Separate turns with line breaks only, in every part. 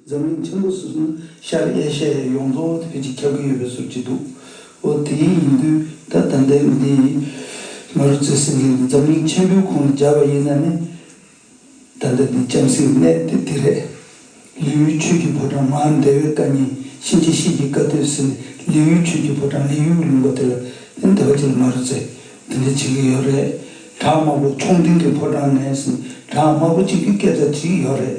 འཛམ་གླིང་ཆེན་པོ་སོ་སོ་ན་ཤར་ཨེ་ཤ་ཡའི་ཡོངས་རྫོགས་བོད་ཀྱི་ཁྱབ་གི་ཡོད་པའི་ཟུར་གྱི་འདུག་འོ་དེ་ཡིན་ཡིན་དུས་ད་ད་འདའི་མི་འདི་ཡིན་ང་རུ་བརྩེ་སེམས་ཡིན་ན་འཛམ་གླིང་ཆེན་པོའི་ཁོང་ལ་སྦྱར་བ་ཡིན་ན་ནི་ད་འདའ་འདི་ལྕམ་སྲིའི་གནས་དེ་འདི་རེད། ལིའུའི་ཆོས་ཀྱི་ཕོ་བྲང་མར་འདའ་བའི་བཀའ་ཉན་གཤིན་རྗེ་གཤེད་ཀྱི་བཀའ་སྡོད་ཟེར་ནས་ལིའུའི་ཆོས་ཀྱི་ཕོ་བྲང་ལི་ཡུའུ་ལུང་པ་དེ་ལ་དེ་འདའ་བ་ཅི་ལ་ང་རུ་བརྩེ་འདི་འདྲ་བྱེད་གི་ཡོད་རེད་བྲག་དམར་པོ་ཆུང་འདི་འདྲའི་ཕོ་བྲང་ནས་ཟིན་བྲག་དམར་པོ་གཅིག་གི་སྐད་ཆ་བྱེད་གི་ཡོད་རེད།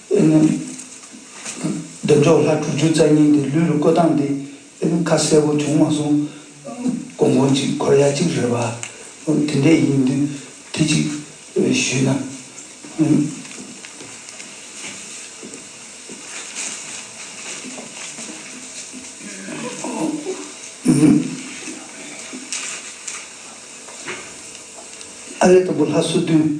ཨེ་ནུ། འདོན་མཆོག་ལྷ་དྲུག་ཅུ་རྩ་གཉིས་འདི་ལུས་ལ་བཀོད་སྟངས་འདི་ཨེ་ནུ་ཁ་གསལ་བོ་བྱུང་མ་སོང། གོང་གོང་ཅིག་འཁོར་ཡག་ཅིག་རེད་བ། དེ་འདྲས་ཡིན་དུས་དེ་ཅིག་ཞུས་ན། ཨ་རེ་དང་པོ་ལྷ་བསོད་བདུན།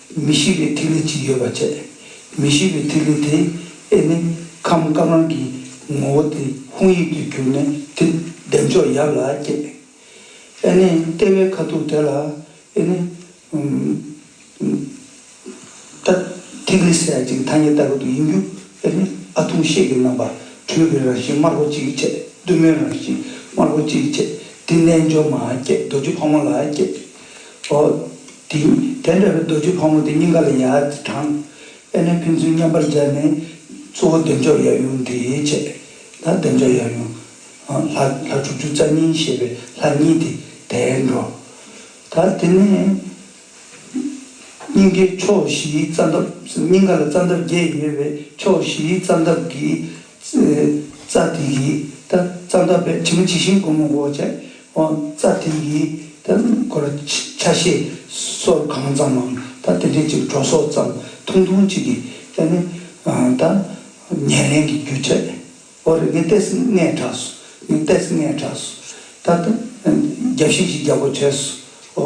མི་ཤེས་པའི་ཐིག་ལེ་གཅིག་ཡོད་པར་བྱས། མི་ཤེས་པའི་ཐིག་ལེ་དེ་ཨེ་ནི་ཁམས་དཀར་ནག་གི་ངོ་བོ་དེ་ཧཱུྃ་ཡིག་ཏུ་གྱུར་ནས་དེ་བདེ་མཆོག་ཡབ་ལ་བསྐྱེད། ཨེ་ནི་ལྟེ་བའི་ཁ་ཐུག་དེ་ལ་ཨེ་ནི། ད་ཐིག་ལེ་སྲེག་ཅིང་ཐ་སྙད་ལྟ་བུ་དུ་ཡིན་རྒྱུ་ཨེ་ནི་ཨ་ཐུང་ཤེས་ཀྱི་རྣམ་པར་འཕྲུལ་པའི་རང་བཞིན་དམར་པོ་གཅིག་བྱས་བདུད་མོའི་རང་བཞིན་དམར་པོ་གཅིག་བྱས་དེ་རྣལ་འབྱོར་མ་བསྐྱེད་རྡོ་རྗེ་ཕག་མོ་ལ་བསྐྱེད། དེ་དེ་འདྲ་བའི་རྡོ་རྗེ་ཕག་མོ་དེ་སྙིང་ག་ལ་ཡ་དེ་དྲངས། དཔལ་ནས་ཕན་ཚུན་མཉམ་པར་སྦྱར་ནས། གཙོ་བོ་བདེ་མཆོག་ཡབ་ཡུམ་དེའི་ཆས། ལ་བདེ་མཆོག་ཡབ་ཡུམ། ལྷ་ལྷ་དྲུག་ཅུ་རྩ་གཉིས་ཞེས་པའི་ལྷ་གཉིས་ཏེ་དེའི་འགྲོ། ད་དེ་ནས། སྙིང་གའི་ཕྱོགས་བཞིའི་རྩ་འདབ་སྙིང་ག་ལ་རྩ་འདབ་བརྒྱད་ཡོད་པའི་ཕྱོགས་བཞིའི་རྩ་འདབ་ཀྱི། རྩ་དེ་ཡི་ད་རྩ་འདབ་པའི་དྲི་མ་ཇི་བཞིན་བསྒོམ་མོ་འོ་བྱད་དབང། རྩ་དེ་ཡི་ད་འཁོར་ཆ་ཤས་སོར་གང་ཙམ་མམ་ད་དེ་འབྲས་གཅིག་གྲོ་སོ་ཙམ་ཐུང་ཐུང་གཅིག་གིས་ད་ནི་ད་ཉེར་ལེན་གྱི་རྒྱུ་བྱས་འོ་རེ་ནི་ཏས་ལྔའི་གྲགས་སུ་ནི་ཏས་ལྔའི་གྲགས་སུ་ད་ད་བརྒྱ་བྱིན་གྱིས་བརྒྱ་གོ་བྱས་སོ།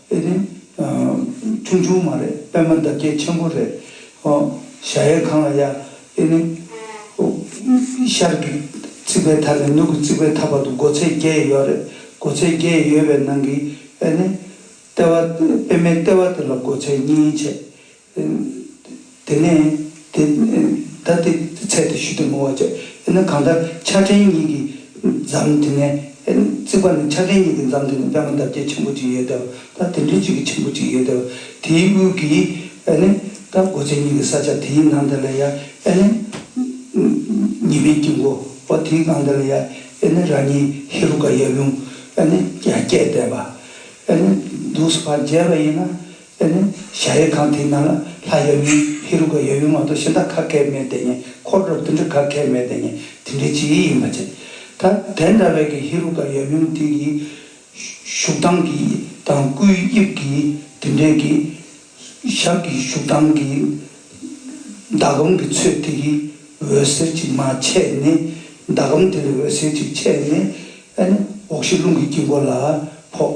དེ་ནི་ཆུང་ཆུང་མ་རེད་པད་མ་འདབ་བརྒྱད་ཆེན་པོ་རེད། ཧོ། ཞྭ་ཡལ་གང་ལ་ཡལ། དེ་ནི། ཧོ། ཤར་གྱི་རྩིག་པའི་མཐའ་ནས་ནུབ་ཀྱི་རྩིག་པའི་མཐའ་བར་དུ་སྒོ་ཚད་བརྒྱད་ཡོད་རེད། སྒོ་ཚད་བརྒྱད་ཡོད་པའི་ནང་གི་ཨེ་ནི། ལྟེ་བ། པད་མའི་ལྟེ་བ་དེ་ལ་སྒོ་ཚད་གཉིས་བྱས། དེ་ནས་དེ་ལྟར་དེ་ཚད་དེ་ཞུས་ཏེ་མོ་བ་ཅག་ཨེ་ན་གང་ལྟར་ཕྱག་ཕྲེང་གཉིས་ཀྱིས་འཛམ་དེ་ནས་བརྩིགས་པ་ནི་ཕྱག་ཕྲེང་གཉིས་ཀྱིས་འཛམ་དེ་ནས་པདྨ་འདབ་བརྒྱད་ཆེན་པོ་གཅིག་ཡོད་དེ་བ་དང་དེ་འབྲུ་གཅིག་གི་ཆེན་པོ་གཅིག་ཡོད་དེ་བ་དེའི་དབུས་ཀྱིས་ཨེ་ནས་དང་སྒོ་ཚད་གཉིས་ཀྱི་ས་ཆ་དེའི་ནང་དེ་ལ་ཡ་ཨེ་ནས་ཉི་མའི་དཀྱིལ་འཁོར་བ་དེའི་སྒང་དེ་ལ་ཡ་ཨེ་ནས་རང་ཉིད་ཧེ་རུ་ཀ་ཡབ་ཡུམ་ཨེ་ནས་རྒྱ་སྐྱེགས་བསྡད་པ་ཨེ་ནས་འདུག་སོ་ག་མཇལ་བ་ཡིན་ན་དེ་ནས་གཞལ་ཡས་ཁང་དེའི་ནང་ལ་ལྷ་ཡབ་ཡུམ་ཧེ་རུ་ཀ་ཡབ་ཡུམ་མ་གཏོགས་གཞན་དག་ཁ་ཁད་མེད་དེ་ཉིད་འཁོར་རབ་ཏུ་འདྲི་ཁ་ཁད་མེད་དེ་ཉིད་དེ་འདྲི་བྱེད་ཡིད་ཡིན་པར་བྱས། ད་དེ་འདྲ་བས་ཀྱི་ཧེ་རུ་ཀ་ཡབ་ཡུམ་དེ་ཀྱི་བཞུགས་སྟངས་ཀྱི་དང་སྐུའི་དབྱིབས་ཀྱི་དེ་འདྲའི་ཀྱི། ཞབས་ཀྱི་བཞུགས་སྟངས་ཀྱི། ཟླ་གམ་གྱི་ཚོས་དེ་ཀྱི་འོད་ཟེར་ཅིག་མ་ཆད་ནས། ཟླ་གམ་དེ་ལས་འོད་ཟེར་ཅིག་ཆད་ནས། འོག་གཞི་རླུང་གི་དཀྱིལ་འཁོར་ལ་ཕོག།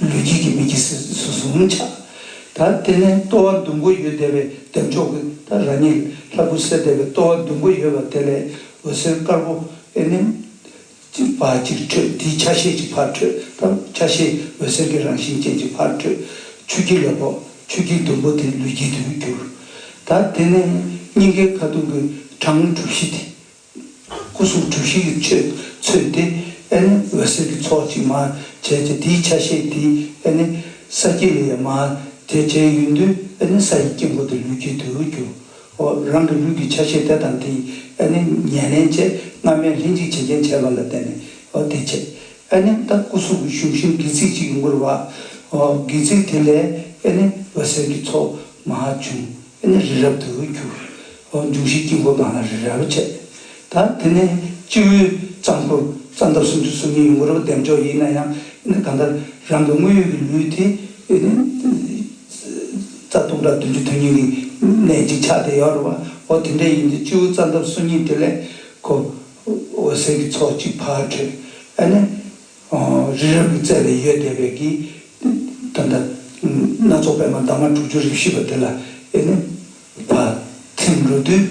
ལུས་དཀྱིལ་གྱི་མིག་གི་སེར་ཚིལ་སོ་སོ་མངོན་ཆགས། ད་ལྟེ་ནས་ལྟོ་བ་ཟླུམ་པོ་ཡོད་བདེ་བའི་ལྡེམ་ཕྱོགས་ཀྱི་ད་ར་ཉིལ་ལྷ་བུ་སེར་བདེ་བའི་ལྟོ་བ་ཟླུམ་པོ་ཡོད་བ་དེ་ལས་འོད་ཟེར་དཀར་པོ་ཨེ་ནེམ། ཅིག་བར་གཅིག་འཕྲོས་དེའི་ཆ་ཤས་ཀྱི་བར་འཕྲོས་སྟབས་ཆ་ཤས་འོད་ཟེར་གྱི་རང་བཞིན་ཅན་གྱི་བར་འཕྲོས། ཆུ་དཀྱིལ་ལ་ཕོག་ཆུ་དཀྱིལ་ཟླུམ་པོ་དེ་ལུས་དཀྱིལ་དུ་གྱུར། ད་དེ་ནས་སྙིང་གའི་ཁ་ཐུང་གི་གྲངས་དངོས་གྲུ་བཞི་དེ། སྐུ་གསུང་ཐུགས་བཞི་ཡི་ཆོས་ཚུལ་དེ་ཨེ་ནི་འོད་ཟེར་གྱི་ཚོགས་ཀྱིས་མར་བྱས་ཀྱི་དེའི་ཆ་ཤས་དེ་ཨེ་ནི་ས་དཀྱིལ་ལས་མར་བྱས་ཀྱི་ཡུན་དུ་ཨེ་ནི་ས་ཡི་དཀྱིལ་འཁོར་དུ་ལུས་ཀྱི་དུས་འགྱུར་བའོ། རང་གི་ལུས་ཀྱི་ཆ་ཤས་དེ་དང་དེ་ཨེ་ནི་ཉེར་ལེན་བཅས་སྔ་མའི་ལྷན་ཅིག་བྱེད་རྐྱེན་བྱས་པ་ལ་བརྟེན་ནས་འོ་དེ་བྱས་ཨེ་ནི་ད་སྐུ་གསུང་གི་གཞུང་བཞིན་དགེ་ཚིག་ཅིག་འགུར་བའོ། དགེ་ཚིག་དེ་ལས་ཨེ་ནི་འོད་ཟེར་གྱི་ཚོགས་མ་བྱུང། དེ་ནས་རི་རབ་ཏུ་གྱུར། འབྱུང་བཞིའི་དཀྱིལ་འཁོར་དང་རི་རབ་བཅས། ད་དེ་ནས་སྤྱི་བོའི་རྩ་འཁོར་རྩ་འདབ་སུམ་ཅུ་སོ་གཉིས་ཡུམ་རབ་ལྡེམ་མཆོག་ཡིན་ན་ཡང་ནི་གང་ལྟར་རང་གི་དངོས་ཡོད་ཀྱི་ལུས་དེ་ནི་རྩ་སྟོང་ཕྲག་བདུན་ཅུ་དོན་སྙིང་གི་གནད་ཅིག་ཆགས་ཏེ་ཡོད་རེད་བའོ། དེ་འདྲ་ཡིན་དུས་སྤྱི་བོའི་རྩ་འདབ་སོ་གཉིས་དེ་ལས་ཁོ་འོད་ཟེར་གྱི་ཚོགས་གཅིག་ཕར་འཕྲོས། ཨ་ནི། རི་རབ་ཀྱི་རྩེ་ནས་ཡོལ་འདེབས་པའི་གིས། ད་ལྟ་སྣ་ཚོགས་པད་མ་འདབ་མ་དྲུག་ཅུ་རིམ་བཞི་པ་འདི་ལ་ཨེ་ནི། བ་ཐིམ་རོ་བསྡུས་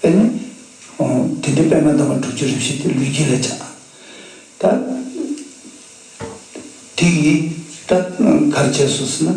ཨེ་ནི། དེ་འདྲའི་པད་མ་འདབ་མ་དྲུག་ཅུ་རིམ་བཞི་དེ་ལུས་དཀྱིལ་ལ་བྱ། ད་དེ་ཡིས་ད་གར་བྱས་སུ་ཟིན་ན།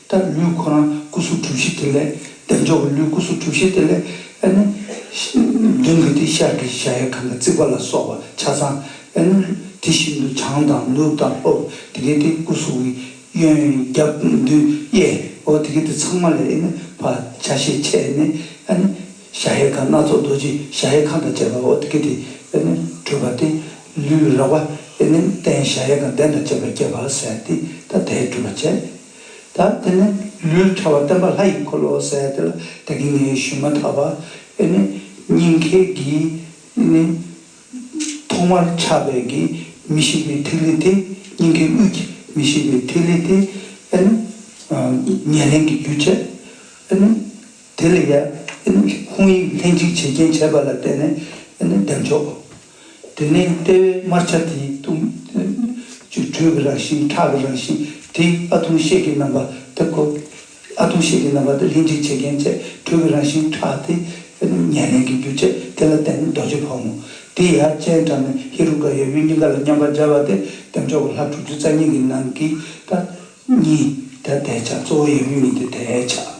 ལྟར་ལུས་ཁོ་རང་སྐུ་གཟུགས་གྲུ་བཞི་དེ་ལས་འདེགས་འཇོག་གི་ལུས་སྐུ་གཟུགས་གྲུ་བཞི་དེ་ལས་ཨེ་ནུ། མདུན་གྱི་དེ་ཤར་གྱི་གཞལ་ཡས་ཁང་གི་རྩིག་པ་ལ་སོགས་པ་ཆ་ཚང་ཨེ་ནུ། དེ་བཞིན་དུ་བྱང་དང་ནུབ་དང་ལྷོ་དེ་གའི་དེ་སྐུ་གཟུགས་ཀྱི་གཡོན་རྒྱབ་མདུན་གཡས་འོག་དེ་གའི་དེ་ཚང་མ་ལས་ཨེ་ནུ་བ་ཆ་ཤས་ཆད་ནས་ཨེ་ནུ། གཞལ་ཡས་ཁང་སྣ་ཚོགས་རྡོ་རྗེ་གཞལ་ཡས་ཁང་དང་བཅས་པའི་འོག་དེ་གའི་དེ་ཨེ་ནུ་སྤྲོས་པ་སྟེ། ལུས་རགས་པ་ཨེ་ནུ་སྟན་གཞལ་ཡས་ཁང་གདན་དང་བཅས་པའི་བསྐྱེད་པ་བསལ་ཏེ་ཐ་དད་སྤྲོས་པ་བྱས། ད་དེ་ནས་ལུས་ཕྲ་བ་བསྟན་པ་ལྷ་ཡི་འཁོར་ལོ་ཟས་དེ་ལ་ད་གིན་ངའི་ཞུན་མ་དག་པ་ཨེ་ནི་སྙིང་མཁས་ཀྱི་ཨེ་ནི། ཐོག་མར་ཆགས་པའི་གི་མི་ཤིགས་པའི་ཐིག་ལེ་དེ་སྙིང་ཁའི་དབུས་ཀྱི་མི་ཤིགས་པའི་ཐིག་ལེ་དེ་ཨེ་ནི། ཉེར་ལེན་གྱི་རྒྱུ་བྱེད་ཨེ་ནི། དེ་ལས་ཡར་ཨེ་ནི་ཧཱུྃ་ཡིག་ལྷན་ཅིག་བྱེད་རྐྱེན་བྱེད་པ་ལ་བརྟེན་ནས་ཨེ་ནི་བདེ་མཆོག། དེ་ནས་ལྟེ་བའི་དམར་ཆ་དེའི་སྟུག་ཆུ་དྲོད་ཀྱི་རང་བཞིན་ཁྲག་གི་རང་བཞིན་དེ་ཨ་ཐུང་གཤེད་ཀྱི་རྣམ་པ་དེ་གོ། ཨ་ཐུང་གཤེད་ཀྱི་རྣམ་པ་དེ་ལྷན་ཅིག་བྱེད་མཁན་བཅས་དྲོད་ཀྱི་རང་བཞིན་ཁྲག་དེ་ཉེར་ལེན་གྱི་རྒྱུ་བཅས་དེ་ལ་བརྟེན་རྡོ་རྗེ་ཕག་མོ་དེ་ཡར་སྤྱན་དྲངས་ནས་ཧེ་རུ་ཀ་ཡབ་ཡུམ་གཉིས་ཀ་ལ་མཉམ་པར་སྦྱར་བ་སྟེ་བདེ་མཆོག་གི་ལྷ་དྲུག་ཅུ་རྩ་གཉིས་ཀྱི་ནང་གི་ལྟ་གཉིས་དེ་དེ་ཆགས་གཙོ་བོ་ཡབ་ཡུམ་གཉིས་དེ་དེ་ཆགས།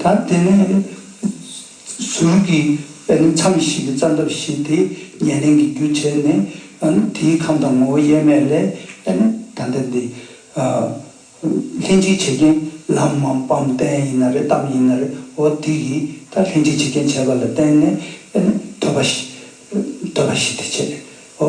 ད་དེ་ནས་ཟུར་གྱི་དཔེ་ནི་མཚམས་ཤིག་གི་རྩ་འདབ་བཞི་དེ་ཉེར་ལེན་གྱི་རྒྱུ་བྱས་ནས་དེའི་ཁམས་དང་ངོ་བོ་དབྱེར་མེད་ལས་དཔེ་ནི་ད་ལྟ་འདི་ལྷན་ཅིག་བྱེད་རྐྱེན་ལམ་མམ་སྤམ་རྟེན་ཡིན་ན་རེ་གཏམ་ཡིན་ན་རེ་འོ་དེ་ཡི་ད་ལྷན་ཅིག་བྱེད་རྐྱེན་བྱས་པ་ལ་བརྟེན་ནས་དཔེ་ནི་ཐོས་པ་བཞི་དེ་བྱས་འོ།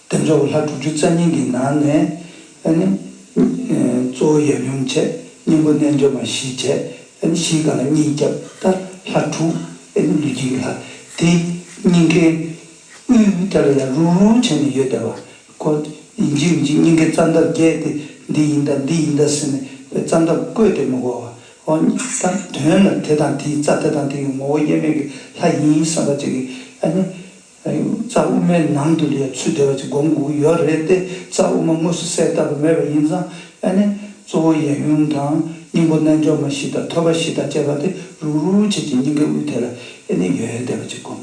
དེ་ཚོ་ལྷ་དྲུག་ཅུ་རྩ་གཉིས་ཀྱི་ནང་ནས་གཙོ་བོ་ཡབ་ཡུམ་བཅས་སྙིང་པོ་རྣལ་འབྱོར་མ་བཞི་བཅས་བཞི་གང་གཉིས་སྐྱབས་ལྟར་ལྷ་དྲུག་ལུས་དཀྱིལ་གྱི་ལྷ་དེ་སྙིང་གའི་དབུས་ལྟར་ལ་རུ་རུ་བྱས་ནས་ཡོད་བསྡད་པ་ཀོ། འཇིགས་འཇིགས་སྙིང་གའི་རྩ་འདབ་བརྒྱད་དེ་འདི་ཡིན་དཱ་འདི་ཡིན་དཱ་ཟེར་ནས་པའི་རྩ་འདབ་བཀོད་དེ་མི་གོ་བ་ཨོ། དང་དོན་ལ་དེ་དང་དེའི་རྩ་དེ་དང་དེའི་ངོ་བོ་དབྱེར་མེད་ཀྱི་ལྷ་ཡིན་བསམ་པ་བཅས་ཀྱི། རྩ་དབུ་མའི་ནང་དུ་ལས་ཚུལ་འབྲེལ་བ་གཅིག་སྒོམ་དགོས་ཀྱི་ཡོད་རེད་དེ་རྩ་དབུ་མ་དངོས་སུ་གསལ་བཏབ་པ་མེད་པ་ཡིན་ཙང་ཨ་ནེ་གཙོ་བོ་ཡན་ཡུང་དང་སྙིང་པོ་རྣལ་འབྱོར་མ་བཞི་དང་ཐོད་པ་བཞི་དང་བཅས་པ་དེ་རུག་རུག་བྱེད་ཀྱི་སྙིང་གའི་དབུས་དེ་ལ་ཨེ་ནེ་ཡོད་ཡོད་བསྡད་པ་གཅིག་སྒོམ་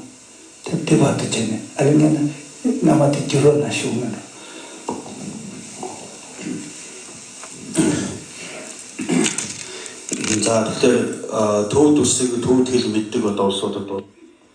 དེ་དེ་བར་དུ་བྱས་ནས་ཨ་ལེ་ངན་ན་སྔ་མ་དེ་བསྒྱུར་བ་ན་ཞུགས་མིན་འགྲོ།
འདི་ལྟར་དུག་ཏུ་བསྲེགས་ཀྱི་དུག་ཐིག་ལེ་མི་བསྡུས་པ་ལྟ་བུ་སྲོག་ཏུ་འདོད།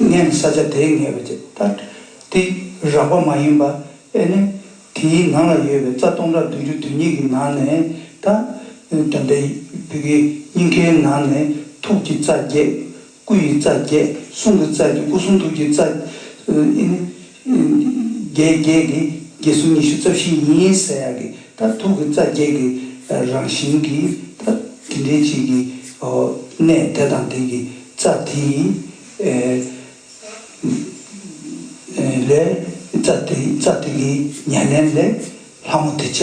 ངས་ནི་ས་ཆ་དེའི་ངལ་བའི་ཚེ་ལྟར་ཏེ་རགས་པ་མ་ཡིན་པ་ཨེ་ནི། དེའི་ནང་ལ་ཡོད་པའི་རྩ་སྟོང་ཕྲག་བདུན་ཅུ་དོན་གཉིས་ཀྱི་ནང་ནས་དང། དོན་དེ་བུ་གའི་སྙིང་ཁའི་ནང་ནས་ཐུགས་ཀྱི་རྩ་བརྒྱད། སྐུ་ཡི་རྩ་བརྒྱད་གསུང་གི་རྩ་བརྒྱད་སྐུ་གསུང་ཐུགས་ཀྱི་རྩ། ཨེ་ནི། བརྒྱད་བརྒྱད་ཀྱིས་བརྒྱད་གསུམ་ཉི་ཤུ་རྩ་བཞི་ཡིན་ཟེར་ཡག་གི་ད་ཐུག་གི་རྩ་བརྒྱད་ཀྱི་རང་བཞིན་གྱི་ད་དེ་འདྲའི་གཅིག་གི་གནས་དེ་དང་དེ་གི་རྩ་དེ་ཡི་ལས་རྩ་དེ་རྩ་དེ་གི་ཉེར་ལེན་ལས་ལྷ་མོ་དེ་བྱས་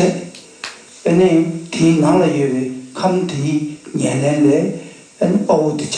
པས་ནི་དེའི་ནང་ལ་ཡོད་པའི་ཁམས་དེ་ཡི་ཉེར་ལེན་ལས་དཔའ་བོ་དེ་བྱས་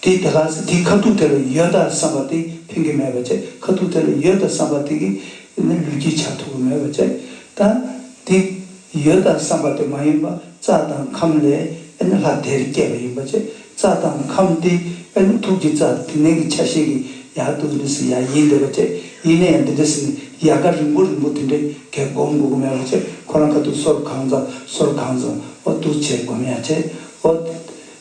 དེས་དེ་ལ་ཟེར་དེའི་ཁ་ཐུག་དེ་ལ་ཡོད་དཱ་བསམ་པ་དེ་ཕན་གྱི་མེད་པ་བཅས་ཁ་ཐུག་དེ་ལ་ཡོད་དཱ་བསམ་པ་དེ་གིས་ནི་ལུས་ཀྱི་བྱ་ཐུག་གི་མེད་པ་བཅས་དང། དེ་ཡོད་དཱ་བསམ་པ་དེ་མ་ཡིན་པ་རྩ་དང་ཁམས་ལས་ཨེ་ནི་ལྷ་དེར་སྐྱེས་པ་ཡིན་པ་བཅས་རྩ་དང་ཁམས་དེ་ཨེ་ནི་ཐུགས་ཀྱི་རྩ་དེ་ནས་ཀྱི་ཆ་ཤས་ཀྱི་ཡ་དུ་ནི་སི་ཡ་ཡིན་འདི་པ་བཅས་ཡིན་ན་ཡང་འདི་འདི་སི་ནི་ཡ་ག་རིང་པོ་རིང་པོ་དེ་འདྲའི་གས་བསྒོམ་དགོས་ཀྱི་མེད་པ་བཅས་ཁོ་རང་ཁ་ཐུག་སོར་གང་ཙམ་སོར་གང་ཙམ་འོ་དུ་བྱས་བསྒོམ་ཡ་བཅས་འོ་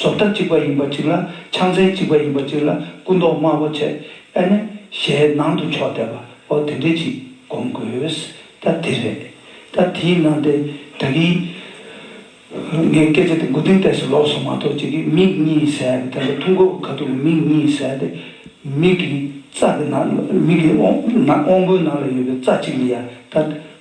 ཟོབ་ལྟ་གཅིག་པ་ཡིན་པ་གཅིག་ལ་ཕྱག་མཚན་གཅིག་པ་ཡིན་པ་གཅིག་ལ་སྐུ་མདོག་དམར་པོ་བྱས་ཨེ་ནི་ཞལ་ནང་དུ་ཕྱོགས་བསྡད་པའོ་དེ་འདྲས་ཅིག་སྒོམ་དགོས་ད་དེ་རེད་ད་དེའི་ནང་དེ་དག་གིས་ངའི་སྐད་ཆ་དེ་མགོ་རྟིང་བལྟས་སུ་ལོག་སོང་མ་གཏོགས་ཅིག་གིས་མིག་གཉིས་ཟད་པ་དེ་འདྲ་ཐུག་མགོ་ག་ཐུག་གི་མིག་གཉིས་ཟད་དེ་མིག་གི་རྩ་གི་ནང་མིག་གི་དབང་པོའི་ནང་ལ་ཡོད་པའི་རྩ་གཅིག་ལ་ཡང་ད་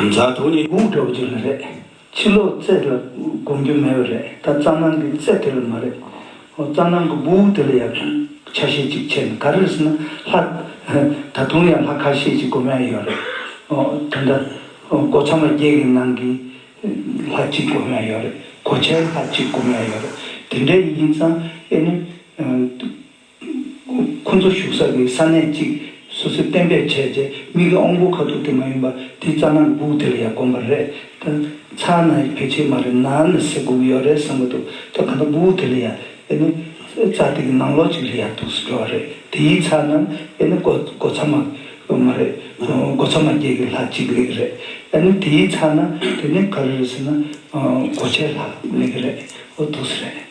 མཛའ་དོ་ནི། དགུག་འགྲོ་རྒྱུ་ལ་རེད།
ཕྱི་ལོག་རྩེད་ལ་སྒོམ་རྒྱུ་མེད་པ་རེད་ད་རྩ་ནང་གི་རྩེད་དེ་ལ་མ་རེད། རྩ་ནང་གི་སྦུ་བུ་དེ་ལ་ཡག་ཤོས་ཆ་ཤས་ཅིག་ཆད་ནས་ག་རེར་སོང་ན་ལྷ། ད་དུང་ཡང་ལྷ་ཁ་ཤས་ཅིག་སྒོམ་ཡག་ཡོད་རེད། ད་ལྟ་སྒོ་ཚང་མ་བརྒྱད་ཀྱི་ནང་གི་ལྷ་གཅིག་སྒོམ་ཡག་ཡོད་རེད་གོ་ཆའི་ལྷ་གཅིག་སྒོམ་ཡག་ཡོད་རེད་དེ་འདྲའི་ཡིན་ཙང་ཨེ་ནི། ཁོ་ཚོ་བཞུགས་ས་དེ་ས་གནས་གཅིག་སོ་སོས་གཏན་འབེབས་བྱས་རྗེས་མི་གི་ཨོང་བུ་ཁ་ཐུག་དེ་མ་ཡིན་པ་དེའི་རྩ་ནང་གི་སྦུག་དེ་ལ་ཡ་གོམས་པ་རེད་ད། ཚར་ན་ཡི་བེད་ཆེ་མ་རེད་ནར་ནི་སེ་སྒུག་ཡོད་རེད་བསམ་གི་འདུག་ད་གང་ལྟར་སྦུག་དེ་ལ་ཡ་ཨེ་ནི་རྩ་དེ་གི་ནང་ལོགས་གཅིག་ལ་ཡ་འདུག་སུ་འགྲོ་བ་རེད་དེ་ཡིས་ཚར་ན་ཨེ་ནི་སྒོ་སྒོ་ཚ་མ་མ་རེད་སྒོ་ཚ་མ་བརྒྱད་གི་ལྷག་གཅིག་ལེགས་རེད་ཨེ་ནི་དེ་ཡིས་ཚར་ན་དེ་ནི་ག་རེ་རེད་ཟེར་ན་སྒོ་ཆའི་ལྷག་ལེགས་རེད་འདུག་སུ་རེད།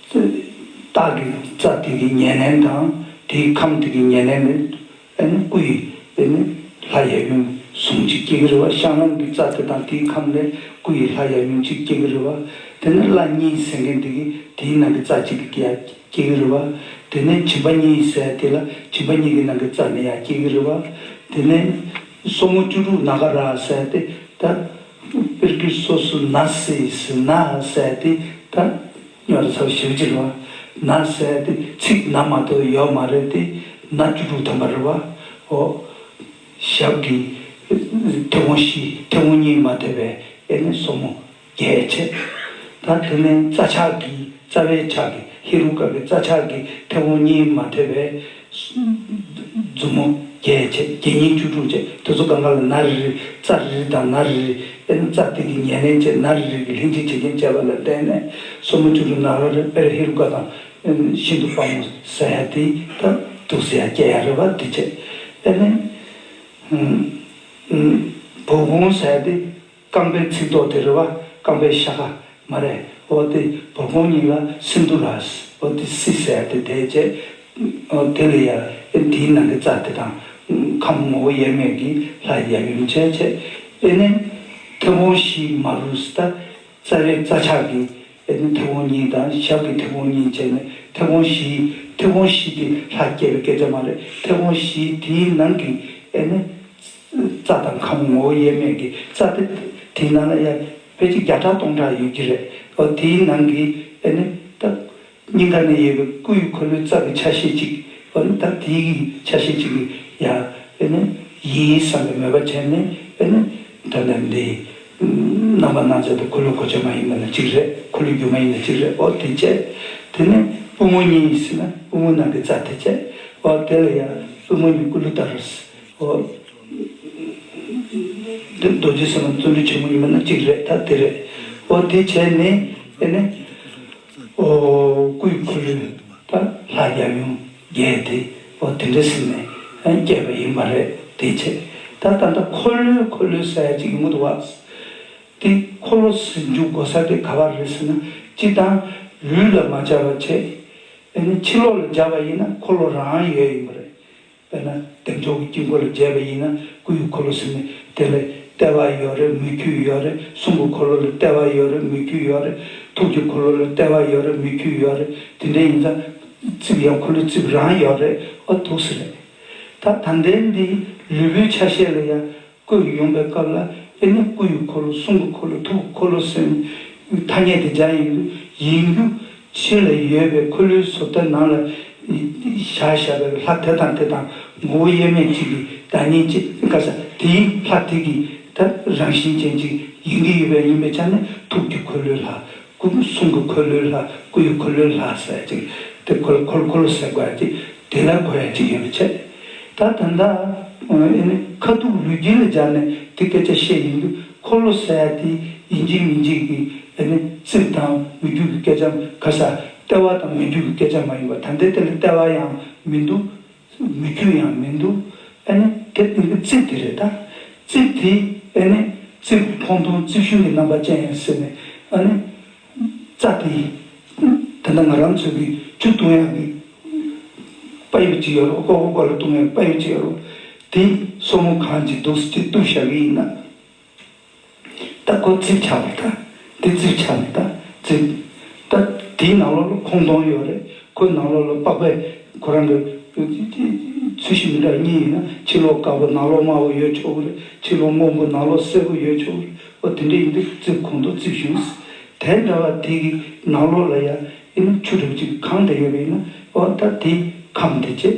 བདག་གི་རྩ་དེ་གི་ཉེར་ལེན་དང་དེ་གི་ཁམས་དེ་གི་ཉེར་ལེན་ལས། སྐུ་ཡི། ལྷ་ཡབ་ཡུམ་ཟུང་གཅིག་སྐྱེ་གི་རེ་བ་བཤང་ལམ་གི་རྩ་དེ་དང་དེ་གི་ཁམས་ལས་སྐུ་ཡི་ལྷ་ཡབ་ཡུམ་གཅིག་སྐྱེ་གི་རེ་བ། དེ་ནས་བླ་གཉིས་ཟས་མཁན་དེ་གི་དེའི་ནང་གི་རྩ་གཅིག་གི་ཡང་སྐྱེ་གི་རེ་བ། དེ་ནས་བྱིན་པ་གཉིས་ཟས་དེ་ལ་བྱིན་པ་གཉིས་གི་ནང་གི་རྩ་ནི་ཡང་སྐྱེ་གི་རེ་བ། དེ་ནས་སོར་མོ་བཅུ་དྲུག་ནཱ་ག་ར་ཟས་དེ་དང། དཔེར་བརྗོད་སོ་སོའི་ན་བཟས་སུ་ན་བཟས་དེ་ད་ཉོ་རེད་ཟེར་བ་ཞིབ་འཇུག་བྱེད་པ། ན་བཟས་དེ་ཚིག་ནང་མ་གཏོགས་ཡོད་མ་རེད་དེ་ན་བཅུ་དྲུག་ཐོན་པ་རེད་བ། ཨོ། ཞབས་ཀྱི་མཐེ་བོང་བཞི་མཐེ་བོང་གཉིས་མ་ཐེབས་པའི་ཨེ་ནི་སོར་མོ་བརྒྱད་ཆད། ད་དེ་ནས་རྩ་ཆག་གི་རྩ་བའི་ཆག་གི་ཧེ་རུ་ཀ་གི་རྩ་ཆག་གི་མཐེ་བོང་གཉིས་མ་ཐེབས་པའི་མཛུབ་མོ་བརྒྱད་བཅས་བརྒྱད་སྙིང་བཅུ་དྲུག་བཅས་དུས་སུ་གང་ག་ལ་ན་རེ་རེ་རྩ་རེ་རེ་དང་ན་རེ་རེ་དཔེར་ན་རྩ་སྟེང་གི་ཉེར་ལེན་བཅས་ན་རེ་རེ་གྱི་ལྷན་ཅིག་བྱེད་རྐྱེན་བཅས་པ་ལ་བརྟེན་ནས་སོར་མོ་བཅུ་དྲུག་ནང་ར་རེ་དཔེར་ཧེ་རུ་ཀ་དང། ཤིན་ཏུ་དཔའ་མོ་ས་ཡ་ཏི་དང་དུག་ས་ཡ་སྐྱེ་ཡ་རི་བ་ཏི་བཅས་དཔེར་ན། བུག་ཧོང་ས་ཡ་ཏི། རྐང་པའི་ཚིགས་ཐོག་དེ་རེ་བ་རྐང་པའི་ཤ་ཁ་མ་རེ་བོ་དེ་བོར་གོང་སྙིང་ལ་སིན་དུ་ར་སི་བོ་དེ་སི་ཟེར་དེ་དེ་རྗེས་དེ་ལས་ཡར་ཨེ་དེའི་ནང་གི་རྩ་དེ་དང་ཁམས་ངོ་བོ་དབྱེར་མེད་ཀྱི་ལྷ་ཡབ་ཡུམ་ཆེ་ཆེ་ཨེ་ནི་མཐེ་བོང་བཞི་མ་རུ་སི་ཏཱ་རྩ་བའི་རྩ་ཕྱག་གི་ཨེ་ནི་མཐེ་བོང་གཉིས་དང་ཞབས་ཀྱི་མཐེ་བོང་གཉིས་བཅས་ནི་མཐེ་བོང་བཞིའི་མཐེ་བོང་བཞི་དེ་ལྷ་བསྐྱེད་པའི་སྐད་ཆ་མ་རེ་མཐེ་བོང་བཞི་དེའི་ནང་གི་ཨེ་ནི། རྩྭ་དང་ཁམ་ངོ་བོ་དབྱེར་མེད་ཀྱི་རྩྭ་དེ་དེའི་ནང་ན་ཡར་བས་ཀྱི་བརྒྱ་ཕྲག་སྟོང་ཕྲག་ཡོད་ཀྱི་རེད་དོ། དེའི་ནང་གི་ཨེ་ནི་ད་སྙིང་ག་ནས་ཡོད་པའི་སྐུའི་འཁོར་ལོའི་རྩ་གི་ཆ་ཤས་གཅིག་ཨེ་ནི་ད་དེའི་གི་ཆ་ཤས་གཅིག་གི་ཡང་ཨེ་ནི་ཡིན་བསམ་པའི་མོས་པ་བྱས་ནས་ཨེ་ནི་ད་ནས་འདིའི་རྣམ་པ་སྣང་མཛད་དུ་འཁོར་ལོ་གོ་ཆ་མ་ཡིན་པ་ན་གཅིག་རེད་འཁོར་ལོའི་རྒྱུ་མ་ཡིན་ན་གཅིག་རེད་ཨོ་དེ་ཅད་དེ་ནས་པུས་མོ་གཉིས་ཟེར་ན་པུས་མོ་ནང་གི་རྩ་དེ་ཅད་ཨོ་དེ་ལ་ཡང་པུས་མོ་གཉིས་སྐུ་ལུས་ལྟར་རོ། འདིར་རྡོ་རྗེ་སེམས་དཔའ་བརྩོན་འགྲུས་ཆེན་པོ་ཡིན་པ་ན་གཅིག་རེད་ད་དེ་རེད། ཨོ་དེའི་ཆེད་ནི་དེ་ནི། ཨོ། སྐུའི་འཁོར་ལོའི་ད་ལྷ་རྒྱལ་ཡུམ་རྒྱལ་དེ་ཨོ་དེ་འདྲའི་སེམས་ནས་བསྐྱེད་པ་ཡིན་པ་རེད་དེའི་ཆེད་ད་ད་ལྟ་འཁོར་ལོའི་འཁོར་ལོའི་ས་ཡ་གཅིག་ཡོང་གི་འདུག་བ། དེ་འཁོར་ལོ་ཟིན་འཇུག་གོ་ས་དེ་ག་བ་རེད་ཟེར་ན་སྤྱི་དང། ལུས་ལ་མ་སྦྱར་བ་ཆེད་ནི་ཕྱི་ལོགས་ལ་སྦྱར་བ་ཡིན་ན་འཁོར་ལོ་རང་ཡོད་ཡིན་པ་རེད། དཔེར་ན་དེབ་མདོ་གི་དཀྱིལ་འཁོར་ལ་མཇལ་བ་ཡིན་ན་སྐུ་ཡི་འཁོར་ལོ་ཟིན་ནས་དེ་ལས་ལྟེ་བ་ཡོད་རེ་མི་འཁྱུད་ཡོད་རེ་གསུང་གི་འཁོར་ལོ་ལ་ལྟེ་བ་ཡོད་རེ་མི་འཁྱུད་ཡོད་རེ་ཐུགས་ཀྱི་འཁོར་ལོ་ལ་ལྟེ་བ་ཡོད་རེ་མི་འཁྱུད་ཡོད་རེ་དེ་འདྲ་ཡིན་ཙང་རྩིབས་ཡང་འཁོར་ལོའི་རྩིབས་རང་ཡོད་རེ་ཨོ་ཐུགས་སུ་རེད་ད་དམ་ལྡན་འདིའི་ལུས་པོའི་ཆ་ཤས་ལ་ཡང་སྐུ་ཡི་ཡོངས་པའི་སྐབས་ལ་དབྱེ་ན་སྐུ་ཡི་འཁོར་ལོ་གསུང་གི་འཁོར་ལོ་ཐུགས་ཀྱི་འཁོར་ལོ་ཟེར། ཐ་སྙད་དེ་སྦྱར་ཡིན་དུ་ཡིན་རྒྱུ་ཕྱི་ལ་ཡོད་པའི་འཁོར་ལོའི་ཟུར་ལྟར་ནང་ལ་བཞག་བཞག་པའི་ལྷ་དེ་དང་དེ་དང་ངོ་བོ་དབྱེར་མེད་ཅིག་གི་བདག་ཉིད་ཅེས་བཀའ་སྩལ་དེའི་ལྷ་དེ་གི་ད་རང་བཞིན་ཅན་ཅིག་ཡིན་གྱི་ཡོད་པས་ཡིན་པའི་ཆ་ནས་ཐུགས་ཀྱི་འཁོར་ལོའི་ལྷ། སྐུ་གསུང་གི་འཁོར་ལོའི་ལྷ་སྐུ་ཡི་འཁོར་ལོའི་ལྷ་ཟེར་ཅིག། དེ་འཁོར་འཁོར་འཁོར་ལོ་ཟེར་དགོས་ཀྱི། དེ་ལ་གོ་ཡ་གཅིག་ཡོད་མི་ཆད། ད་ད་ད། ཨེ་ནི་ཁ་ཐུག་ལུས་དཀྱིལ་ལ་སྦྱར་ནས་དེ་སྐད་ཆ་བཤད་ཡིན་དུས་འཁོར་ལོ་ཟེར་ཡ་དེ་ཡིན་གཅིག་མིན་གཅིག་གི་ཨེ་ནི་རྩིབས་དང་མི་རྒྱུད་ཀྱི་སྐད་ཆའམ་ག་ས། ལྟེ་བ་དང་མི་རྒྱུད་ཀྱི་སྐད་ཆ་མ་ཡིན་པར་ད་ལྟའི་དེ་ལ་ལྟེ་བ་ཡང་མི་འདུག། མི་རྒྱུ་ཡང་མི་འདུག་ཨེ་ནི་དེ་དངོས་པོའི་རྩིབས་དེ་རེད་ད། རྩིབས་དེ་ཨེ་ནི་རྩིབས་ཀྱི་མཐོང་ཐུང་རྩིབས་གཞུང་གི་རྣམ་པ་ཅན་ཡིན་ཟེར་ནས་ཨ་ནི། རྩ་དེ། དེ་འདྲ་ང་རང་ཚོའི་གི་ཆུ་བཏུང་ཡ་གི་དཔའ་ཡུལ་ཅིག་ཡོད་རོགས་ཀོ་ཀོ་ཀོ་ལ་བཏུང་ཡ་གི་དཔའ་ཡུལ་ཅིག་ཡོད་རོགས་དེའི་སོར་མོ་གང་ཅིག་འདུག་སེ་ཅིག་བཏུ་ཞག་གི་ཡིན་ན། ད་སྐོར་རྩིས་ཆགས་པ་ད་འདི་རྩིས་ཆགས་པ་ད་རྩིས། ད་དེའི་ནང་ལོགས་ལ་ཁོང་སྟོང་ཡོད་རེད་ཁོའི་ནང་ལོགས་ལ་པགས་པའི་ཁོ་རང་གི་ཚུལ་བཞིན་མི་འདྲ་གཉིས་ཡིན་ན་ཕྱི་ལོགས་དཀར་པོ་ནང་ལོགས་དམར་པོ་ཡོད་ཆོག་གི་རེད་ཕྱི་ལོགས་སྔོན་པོ་ནང་ལོགས་སེར་པོ་ཡོད་ཆོག་གི་རེད་ཨོ་དེ་འདྲ་ཡིན་དུས་རྩིས་ཁོང་སྟོང་རྩིས་བཞུགས་ཟེར་དེ་འདྲ་བ་དེ་གི་ནང་ལོགས་ལ་ཡ་ཡིན་ན་ཆུ་གྲུབ་ཅིག་གང་འདྲ་ཡོད་པ་ཡིན་ན་ཨོ་ད་དེའི་ཁམས་དེ་བྱས།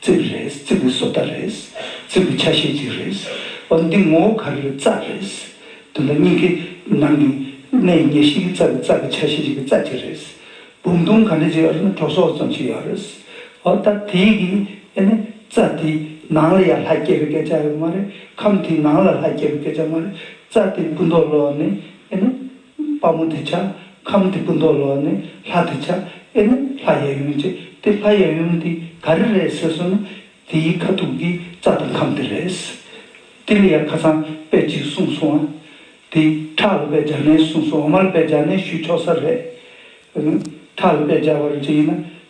རྩིབ་རེད་རྩིབ་ཀྱི་བཟོ་ལྟ་རེད་རྩིབ་ཀྱི་ཆ་ཤས་ཅིག་རེད་བ་འདི་ངོ་བོ་ག་རེ་རྩ་རེད། དེ་འདྲ་གཉིས་ཀའི་ནང་གི་གནས་ཡིན་ཉེར་ཞིག་གི་རྩ་གི་རྩ་གི་ཆ་ཤས་ཅིག་གི་རྩ་གཅིག་རེད། བུམ་ཐུང་ག་འདྲ་ཅིག་ཨ་རུ་ན་གྲོ་སོགས་ཙམ་ཞིག་ཡོད་རེད། ཨོ་ད་དེ་གི་ཨེ་ནས་རྩ་དེ་ནང་ལ་ཡང་ལྷ་སྐྱེས་པའི་སྐད་ཆ་ཡོད་མ་རེད་ཁམས་དེ་ནང་ལ་ལྷ་སྐྱེས་པའི་སྐད་ཆ་མ་རེད་རྩ་དེ་སྤུ་མདོག་ལོག་ནས་ཨེ་ནས། དཔའ་མོ་དེ་ཆགས་ཁམས་དེ་སྐུ་མདོག་ལོག་ནས་ལྷ་དེ་ཆགས་ཨེ་ན་ལྷ་གཡས་གཡོན་བྱས་ཏེ་ལྷ་གཡས་གཡོན་དེ་ག་རེ་རེད་ཟེར་སོང་ན་དེའི་ཁ་ཐུག་གི་རྩ་དང་ཁམས་དེ་རེད། དེ་ལ་ཡང་ཁ་སང་དཔེ་གཅིག་གསུངས་སོང་ཨ། དེ་ཁྲག་ལ་དཔེ་སྦྱར་ནས་གསུངས་སོང་ཨ་མར་དཔེ་སྦྱར་ནས་ཞུས་ཆོག་ས་རེད། ཁྲག་ལ་དཔེ་སྦྱར་བར་བྱས་ན་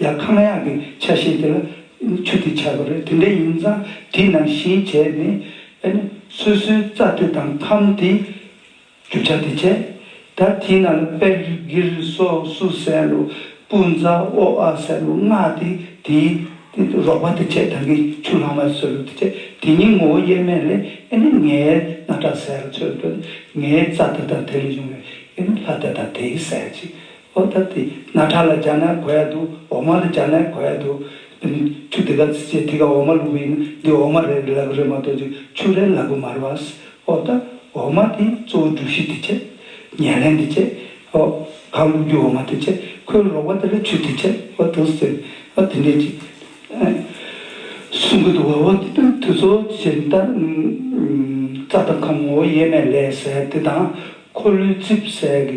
ཡང་ཁམས་གཡག་གི་ཆ་ཤས་དེ་ལ་ཆུ་དེ་ཆགས་པ་རེད་དེ་འདྲས་ཡིན་ཙང་དེ་ནང་བཞིན་བྱས་ནས་ཨེ་ནི་སོ་སོའི་རྩ་དེ་དང་ཁམས་དེ་རྒྱུ་ཆ་དེ་བྱས་ད་དེའི་ནང་ལ་པད་གིར་སོགས་སུ་ཟན་ལུ་སྤུ་རྫ་ཨོ་ཨ་ཟན་ལུ་སྔགས་དེ་དེའི་རོགས་པ་དེ་བྱས་ད་གིས་ཆུ་ལྷག་མ་སོལ་ལུ་དེ་བྱས་དེ་གཉིས་ངོ་བོ་དབྱེར་མེད་ལས་ཨེ་ནི་ངའི་སྣ་ཁྲག་ཟས་ལ་ཚོད་འདོད་ངའི་རྩ་དེ་དང་དེ་ལས་བྱུང་བའི་ཨེ་ནི་ལྷ་དེ་དང་དེའི་ཟས་ཀྱིས་ཨོ་ད་དེ་ན་ཁྲ་ལ་སྦྱར་ན་གོ་ཡག་འདུག་འོ་མ་ལ་སྦྱར་ན་གོ་ཡག་འདུག། ཆུ་དེ་ག་ཚི་ཚི་དེ་ག་འོ་མ་བླུགས་པའི་ན་འདི་འོ་མ་རེད་ལ་གོ་རེད་མ་གཏོགས་ཅིག་ཆུ་རེད་ལ་གོ་མ་རེད་བ། ཨོ་ད་འོ་མ་དེའི་གཙོ་བོ་སྒྲུབ་གཞི་དེ་ཆེ། ཉལ་ལེན་དེ་ཆེ། ཨོ། གང་བླུགས་རྒྱུ་འོ་མ་དེ་ཆེ། ཁོའི་རོགས་པ་དེ་ལ་ཆུ་དེ་ཆེ། ཨོ་ད་ཟེར། ཨོ་དེ་འདྲས་ཅིག། གསུང་གི་འདུག་བ། ཨོ་དེ་དོན་དུ་གཙོ་བོ་ཇི་ལྟར། རྩྭ་དང་ཁམས་ངོ་བོ་དབྱེར་མེད་ལས་ཟེར་དེ་དང། འཁོར་ལོའི་རྩིབས་ཟེར་གི་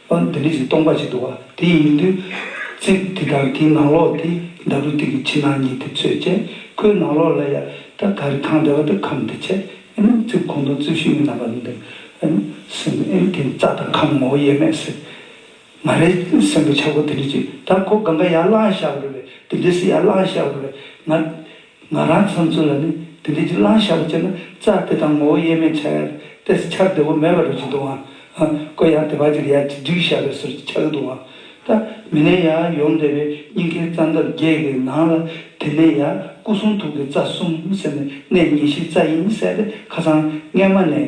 ཨ། འདི་ནི་ཞིག་སྟོང་པ་ཞིག་འདུག་བ། དེ་ཡིན་མིན་དུས། ཚིག་འདི་དག་གི་ནང་ལོགས་དེ་འདྲ་རུ་དུས་ཀྱི་ཕྱི་ནང་གཉིས་དེ་ཚོད་ཅེས་ཁོའི་ནང་ལོགས་ལ་ཡ། ད་ག་རེ་ཐང་འདི་བ་ད་ཁམས་འདི་ཆེ། ཨན། ཚིག་ཁོང་དུ་ཚུལ་ཤིང་གི་རྣམ་པ་འདི། ཨན། སེམས། ཨན། དེ་ནི་རྩ་དང་ཁམས་ངོ་བོ་དབྱེར་མེད་སྲིད། མ་རེད། སེམས་པའི་ཆག་སྒོ་དེ་འདྲ་ཅིག་ད་ཁོ་གང་ག་ཡར་བསླངས་ཤག་རེད་བས་དེ་འདྲའི་སྲིད་ཡར་བསླངས་ཤག་རེད་བས་ང། ང་རང་ཚོ་ཚོ་ལ་ནི་དེ་འདྲའི་གྱི་བླང་བྱ་བ་སྤྱད་ན་རྩ་དེ་དང་ངོ་བོ་དབྱེར་མེད་ཆགས་ཡག་ཏེས་འཆར་བདེ་བོ་མེད་པ་རུ་གྱི་འདུག་ཨང། ཀོ་ཡང་དེ་བར་གྱི་ཡར་གྱི་སྒྲིག་བྱ་བའི་ཟུར་གྱི་ཆགས་གི་འདུག་ཨང། ད་མི་ནས་ཡར་ཡོང་བསྡད་པའི་སྙིང་ཁའི་རྩ་འདབ་བརྒྱད་ཀྱི་ནང་ལ་དེ་ནས་ཡར་སྐུ་གསུང་ཐུགས་ཀྱི་རྩ་གསུམ་ཟེར་ནས་གནས་གཉིས་གཞི་རྩ་དབྱིངས་གསལ་ཏེ་ཁ་སང་སྔས་མ་ནས་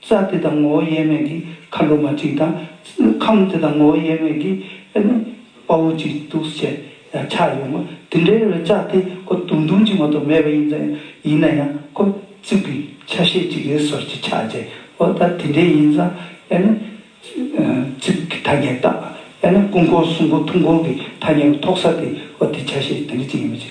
རྩ་དེ་དང་ངོ་བོ་དབྱེར་མེད་ཀྱི་ཁ་ལོ་མ་གཅིག་དང། ཁམས་དེ་དང་ངོ་བོ་དབྱེར་མེད་ཀྱི་དཔའ་བོ་གཅིག་འདུག་ཅེས་ཆགས་ཡོང་ངོ། དེ་འདྲའི་བའི་རྩ་དེ་ཁོ་དུང་དུང་གཅིག་མ་གཏོགས་མེད་པ་ཡིན་ཙང་ཡིན་ན་ཡང་ཁོ་རྩིབས་ཀྱི་ཆ་ཤས་གཅིག་གི་ཟོར་གྱི་ཆ་བྱས་འོ་ད་དེ་འདྲའི་ཡིན་ཙང་རྩིབས་ཀྱི་ཐ་སྙད་བཏགས་ཡང་ན་ཀུན་འཁོར་གསུམ་གོ་ཐུང་འཁོར་གྱི་ཐ་སྙད་པ་ཐོག་ས་དེ་འོ་དེ་ཆ་ཤས་དེ་འདྲ་གཅིག་ཡིན་པ་བྱས།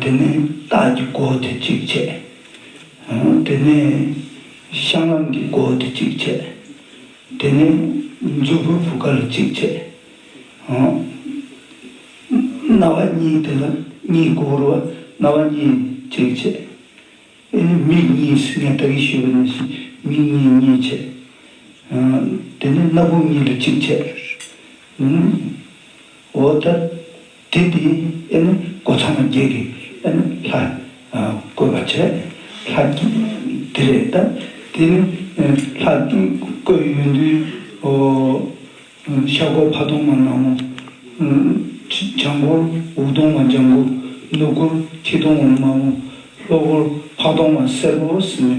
དེ་ནས་སྟག་གི་སྒོ་དེ་གཅིག་ཕྱེ། དེ་ནས་ཤང་ལམ་གྱི་སྒོ་དེ་གཅིག་ཕྱེ། དེ་ནས་མཛོད་ཕུར་བུ་ག་ལ་གཅིག་ཕྱེ། རྣ་བ་གཉིས་དེ་ལ་གཉིས་སྒོ་བོར་བ་རྣ་བ་གཉིས་གཅིག་ཕྱེ། མིག་གཉིས་སུ་ངས་ད་གིན་ཤོད་པ་ནས་ཞེས་མིག་གཉིས་གཉིས་ཕྱེ། དེ་ནས་སྣ་བུག་གཉིས་ལ་གཅིག་ཕྱེ། འོ་ད། དེ་དེ་ཨེ་ནི་སྒོ་ཚང་མ་བརྒྱད་ཀྱི་ཨེ་ནི་ལྷ་བཀོད་པར་བྱས། ལྷ་བརྒྱད་དེ་རེད་ད་དེ་ནི་ལྷ་བཀོད་ཡོད་དུས་ཤར་སྒོར་ཕ་དུང་མ་ནག་མོ། བྱང་སྒོར་འུག་དུང་མ་ལྗང་གུ། ནུབ་སྒོར་ཁྱི་དུང་མ་དམར་མོ། ལྷོ་སྒོར་ཕག་དུང་མ་སེར་པོ་ཟེར་ནས་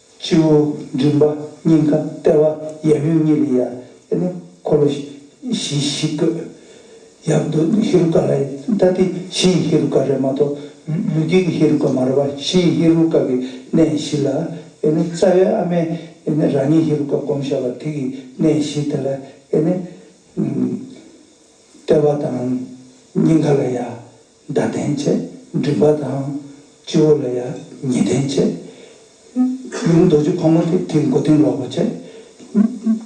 སྤྱི་བོ་མགྲིན་པ་སྙིང་ཁ་ལྟེ་བ་ཡབ་ཡུམ་གཉིས་ལས་ཡར་ལྟས་ན་འཁོར་ལོ་བཞི་བཞི་བཀོད། ཡབ་ཏུ་ཧེ་རུ་ཀ་རའི་ཐ་དད་བཞི་ཡི་ཧེ་རུ་ཀ་རའི་མ་གཏོགས་ལུས་དཀྱིལ་གྱི་ཧེ་རུ་ཀ་མ་རུ་བ་བཞི་ཡི་ཧེ་རུ་ཀ་གི་གནས་བཞི་ལ། རྩ་བའི་ཨ་མའི་རང་ཉིད་ཧེ་རུ་ཀ་བསྒོམ་བྱ་བ་དེ་གི་གནས་བཞི་དེ་ལ། ལྟེ་བ་དང་སྙིང་ཁ་ལ་ཡར་མདའ་ལྡན་བྱེད་མགྲིན་པ་དང། སྤྱི་བོ་ལ་ཡང་ཉི་ལྡན་བྱེད། རི་རུ་རྡོ་རྗེ་ཕག་མོ་སྟེ་དེའི་མགོ་སྟེང་ལོགས་པར་བྱེད།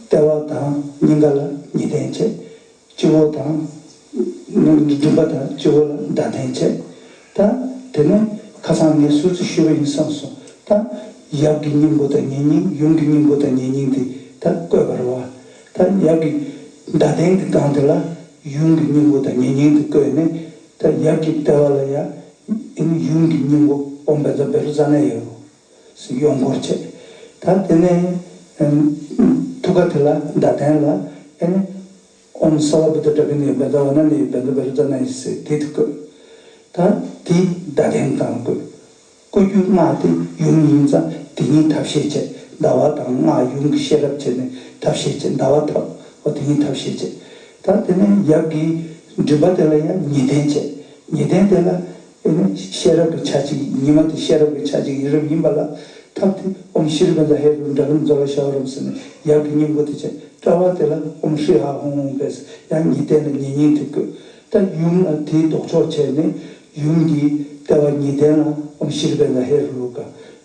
ལྟེ་བ་དང་སྙིང་ག་ལ་ཉི་ལྡན་བྱེད། སྤྱི་བོ་དང། མགྲིན་པ་དང་སྤྱི་བོ་ལ་མདའ་ལྡན་བྱེད། དང། དེ་ནས་ཁ་སང་ངས་སུ་ཙི་ཤོད་པ་ཡིན་བསམ་སོང་དང། ཡབ་ཀྱི་སྙིང་པོ་དང་ཉེ་སྙིང་ཡུམ་གྱི་སྙིང་པོ་དང་ཉེ་སྙིང་དེ་དག་བཀོད་པར་བ། ད་ཡབ་ཀྱི་མདའ་སྟེང་དུ་བཏང་དེ་ལ་ཡུམ་གྱི་སྙིང་པོ་དང་ཉེ་སྙིང་དུ་བཀོད་ནས་ད་ཡབ་ཀྱི་ལྟེ་བ་ལ་ཡང་ཡུམ་གྱི་སྙིང་པོ་ཨོམ་བེ་ཛ་བེ་རུ་ཛ་ནེ་ཡོ། སུ་གཡོག་འཁོར་བྱས། ད་དེ་ནས་ཐུགས་ཀ་དེ་ལ་མདའ་སྟེང་ལ་ཨེ་ནི་ཨོམ་སཱ་བ་བུ་ཏཱ་ཏྲ་ཀི་ནི་ཡོ་བེ་ཛ་བ་ན་ནི་ཡོ་བེ་ཛ་བེ་རུ་ཛ་ནེ་ཡི་སི་དྷི་དུ་བཀོད། ད་དེའི་མདའ་སྟེང་དུ་བཏང་བར་བཀོད། སྐུ་རྒྱུ་སྔགས་ཏེ་ཡུམ་ཉིང་ཙམ་དེ་ཉིད་ཐབས་ཤེས་བྱེད་ཟླ་བ་དང་སྔགས་ཡུམ་གྱི་ཤེས་རབ་བྱེད་ནི་ཐབས་ཤེས་བྱེད་ཟླ་བ་ཐབས་འོ་དེ་ཉིད་ཐབས་ཤེས་བྱེད་དང་དེ་ནས་ཡབ་ཀྱི་མགྲིན་པ་དེ་ལ་ཡང་ཉི་གདན་བྱེད་ཉི་གདན་དེ་ལ་ཨེ་ནི་ཤེས་རབ་ཀྱི་ཆ་གཅིག་ཉི་མ་དེ་ཤེས་རབ་ཀྱི་ཆ་གཅིག་ཡིན་རབ་ཡིན་པ་ལ་ཐབས་ཏེ་ཨོམ་ཤྲཱི་རྦན་ཛ་ཧེ་རུ་ཏྲ་རམ་ཛོ་ལ་ཤྭ་བ་རམ་སི་ནི་ཡབ་ཀྱི་སྙིང་པོ་དེ་བྱེད་ཏྲ་བ་དེ་ལ་ཨོམ་ཧྲཱི་ཧ་ཧོང་ཧོང་བས་ཡང་ཉི་གདན་ལ་ཉི་སྙིང་དེ་བཀོད། ད་ཡུམ་ལ་དེའི་ལྡོག་ཕྱོགས་བྱས་ནས་ཡུམ་འདིའི་ལྟེ་བ་ཉི་གདན་ལ་ཨོམ་ཤྲཱི་རི་བེ་ལ་ཧེ་རུ་ལུ་ཀ་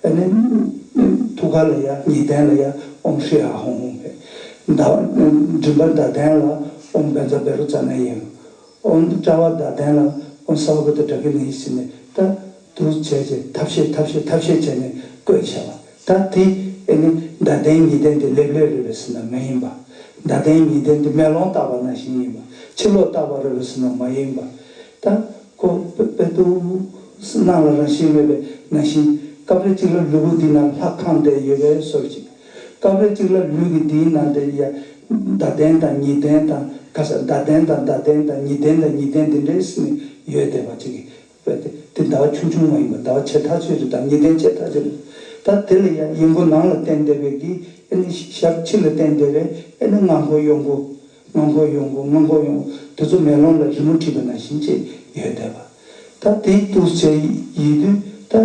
བེ་ནེ་ནེ་ཐུགས་ཀ་ལ་ཡ་ཉི་གདན་ལ་ཡ་ཨོམ་ཤྲཱི་ཧ་ཧོང་ཧོང་བེ་མདའ་བ་ནེ་མགྲིན་པ་མདའ་གདན་ལ་ཨོམ་བེ་ཛ་བེ་རུ་ཛ་ནེ་ཡེ་ཨོམ་དཔྲལ་བ་མདའ་གདན་ལ་ཨོམ་སྭ་བ་བེ་ཏི་དྲ་ཀི་ནེ་ཡི་སི་ནེ་ཏྲ་དུ་བྱས་རྗེས་ཐབས་ཤེས་ཐབས་ཤེས་ཐབས་ཤེས་བྱས་ནས་བཀོད་བྱས་པ། ད་དེ་ནི་མདའ་གདན་ཉི་གདན་དེ་ལེབ་ལེབ་རེད་པས་ཟིན་ན་མ་ཡིན་པ། མདའ་གདན་ཉི་གདན་དེ་མེ་ལོང་བཏགས་པ་ནང་བཞིན་ཡིན་པ། ཕྱི་ལོགས་བཏགས་པ་རེད་པས་ཟིན་ན་མ་ཡིན་པ། ད་ཁོ་པས་ཏུ་སྣང་ལ་རང་བཞིན་མེད་པའི་ནང་བཞིན། སྐབས་རེ་གཅིག་ལ་ལུས་པོ་འདིའི་ནང་ལྷ་ཁང་བསྡད་ཡོད་པའི་སོར་གཅིག། སྐབས་རེ་གཅིག་ལ་ལུས་ཀྱི་འདིའི་ནང་དེ་ཡང་མདའ་གདན་དང་ཉི་གདན་དང་ཁ་ས་མདའ་གདན་དང་མདའ་གདན་དང་ཉི་གདན་དང་ཉི་གདན་འདི་འདྲའི་ཟིན་ནས་ཡོད་བསྡད་པ་གཅིག་གིས་བས་ཏེ། དེ་ཟླ་བ་ཆུང་ཆུང་མ་ཡིན་པར་ཟླ་བ་ཆེ་ཐག་ཆོད་ཅིག་དང་ཉི་གདན་ཆེ་ཐག་ཆོད་ལ། ད་དེ་ལ་ཡང་ཡིག་མགོ་ནང་ལ་བསྟན་བདེ་བས་ཀྱི་ཨེ་ནི་ཞབས་ཕྱི་ལ་བསྟན་བདེ་བས་ཨེ་ནི་སྔགས་མགོ་གཡོག་མགོ། སྔགས་མགོ་གཡོག་མགོ་སྔགས་མགོ་གཡོག་མགོ་དེ་ཚོ་མེ་ལོང་ལ་རི་མོ་བྲིས་པ་ནང་བཞིན་བཅས་ཡོད་བསྡད་པ། ད་དེའི་དུས་ཚེ་ཡི་དུས་ད།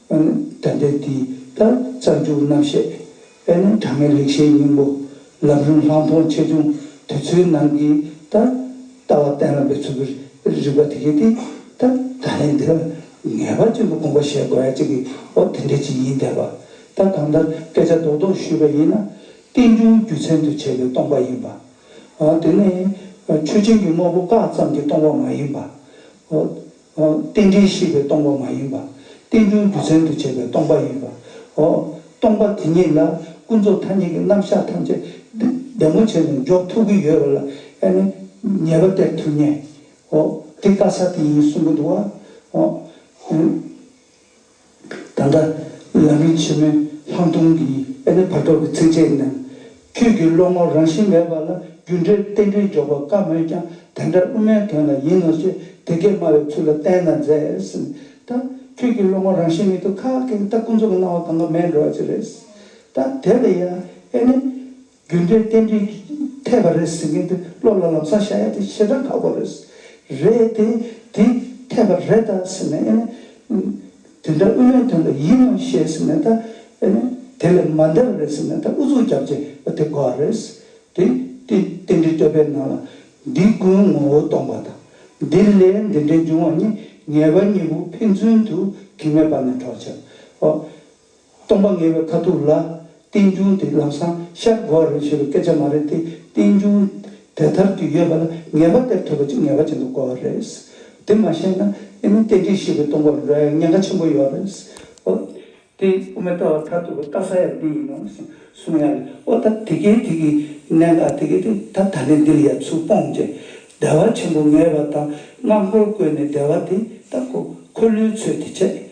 ཨོན་དད་ལྡན་དེ་ལྟར་རྩ་འཇུག་རྣམ་བཤད་དཔལ་ནི་དྲང་ངེས་ལེགས་བཤད་སྙིང་པོ་ལམ་རིམ་ལྷག་མཐོང་ཆེ་ཆུང་དུས་ཚོད་ནང་གི་ད་ལྟ་བ་གཏན་ལ་འབེབས་ཚུལ་གྱི་རིགས་པ་དེ་གས་དེ་ལྟར་ད་ལན་དེ་ལ་ངེས་པ་ཅན་དུ་དགོངས་པ་བཞེད་དགོས་ཡ་གཅིག་གི་འོ་དེ་འདྲའི་ཅིག་ཡིན་དད་པ་ད་གང་ལྟར་སྐད་ཆ་རྡོག་རྡོག་ཞུས་པ་ཡིན་ན་རྟེན་འབྱུང་རྒྱུ་མཚན་དུ་བྱས་པའི་སྟོང་པ་ཡིན་པ་འོ་དེ་ནི་ཆོས་ཅན་གྱི་དངོས་པོ་བཀག་ཙམ་གྱི་སྟོང་པ་མ་ཡིན་པ་འོ་རྟེན་འབྲེལ་ཤེས་པའི་སྟོང་པ་མ་ཡིན་པ། རྟེན་འབྱུང་རྒྱུ་མཚན་དུ་བྱས་པའི་སྟོང་པ་ཡིན་པའོ། སྟོང་པ་དེ་ཉིད་ལ་ཀུན་རྫོབ་ཐ་སྙད་ཀྱི་རྣམ་གཞག་ཐམས་ཅད་བདེ་མོ་བྱས་ནས་འཇོག་ཐུབ་ཀྱི་ཡོད་པ་ལ་ཨེ་ནི་ཉེས་པ་སྟེར་ཐུབ་ངེས། དེ་དཀའ་ས་དེ་ཡིན་གསུང་གི་འདུག་བ། ད་ལྟ་ལམ་རིམ་ཆེན་མོའི་ལྷག་མཐོང་གི་ཨེ་ནི་བར་དོ་གི་ཚིགས་བཅད་ནང། ཁྱོད་ཀྱི་བློ་ངོར་རང་བཞིན་མེད་པ་ལ་རྒྱུ་འབྲས་རྟེན་འབྲེལ་འཇོག་པར་དཀའ་མོད་ཀྱང་དེ་འདྲ་དབུ་མའི་དོན་ལ་ཡིན་ནོ་ཞེས་དེ་སྐད་སྨྲ་བའི་ཚུལ་ལ་བསྟན་ན་མཛེས། ད་ཁྱོད་ཀྱི་བློ་ངོར་རང་བཞིན་མེད་དུ་ཁ་སྐད་ཀྱི་ད་ཀུན་རྫོབ་ཀྱི་སྣང་བ་གང་ག་མེད་འགྲོ་བ་ཅི་རེད། ད་དེ་ལ་ཡང་ཨེ་ནི། རྒྱུ་འབྲས་རྟེན་འབྲེལ་གྱི་འཐད་པ་རེད་ཟེར་མཁན་དེ་བློ་ལ་ལམ་སང་བཞག་ཡ་དེ་ཞེ་སྡང་ཁག་པོ་རེད། རེད་དེ། དེ་འཐད་པ་རེད་ད་ཟེར་ནས་ཨེ་ནི། དེ་འདྲ་དབུ་མའི་དོན་ལ་ཡིད་སྨོན་བཞེས་ཟེར་ནས་ད་ཨེ་ནི། དེ་ལས་མ་འདས་པ་རེད་ཟེར་ནས་ད་ཨུ་ཚུགས་རྒྱབ་རྗེས་ཨ་དེ་དགོས་རེད། དེ་དེ་རྟེན་འབྲེལ་བསྟོད་པའི་ནང་ལ་འདི་ཀུན་ངོ་བོ་སྟོང་པ་དང། འདི་ལས་འདི་འདྲའི་འབྱུང་བ་གཉིས་ངེས་པ་གཉིས་པོ་ཕན་ཚུན་དུ་གི་མེད་པ་ནི་གྲོགས་བྱེད་པའོ། སྟོང་པ་ངེས་པའི་ཁ་ཐུག་ལ། རྟེན་འབྱུང་དེ་ལམ་སང་ཤར་དགོས་བ་རེད་ཞེས་པའི་སྐད་ཆ་མ་རེད་དེ་རྟེན་འབྱུང་དེ་དར་དུ་ཡོད་པ་ལ་ངེས་པ་སྟེར་ཐུབ་པ་ཅིག་ངེས་པ་ཅན་དུ་གོ་བ་རེད། དེ་མ་ཤེས་ན་ཨེ་ནི་རྟེན་འབྲེལ་ཞེས་པའི་སྟོང་པ་ལོས་ཉེན་ཁ་ཆེན་པོ་ཡོད་རེད། དེ་དབུ་མའི་ལྟ་བ་མཐར་ཐུག་གི་ལྟ་ས་ཡང་འདི་ཡིན་ནོ་ཞེས་གསུང་ཡ་རེད། ཨོ་ད་དེ་གའི་དེ་གའི་གནད་འགག་དེ་གའི་དེ་ད་ད་ནས་འདིར་ཡལ་ཚུལ་སྤོང་རྗེས། བདེ་བ་ཆེན་པོ་ངེས་པ་དང་སྔགས་འཁོར་བཀོད་ནས་བདེ་བ་དེ་ལྟ་གོ་འཁོར་ལོའི་ཚུལ་དེ་བྱས།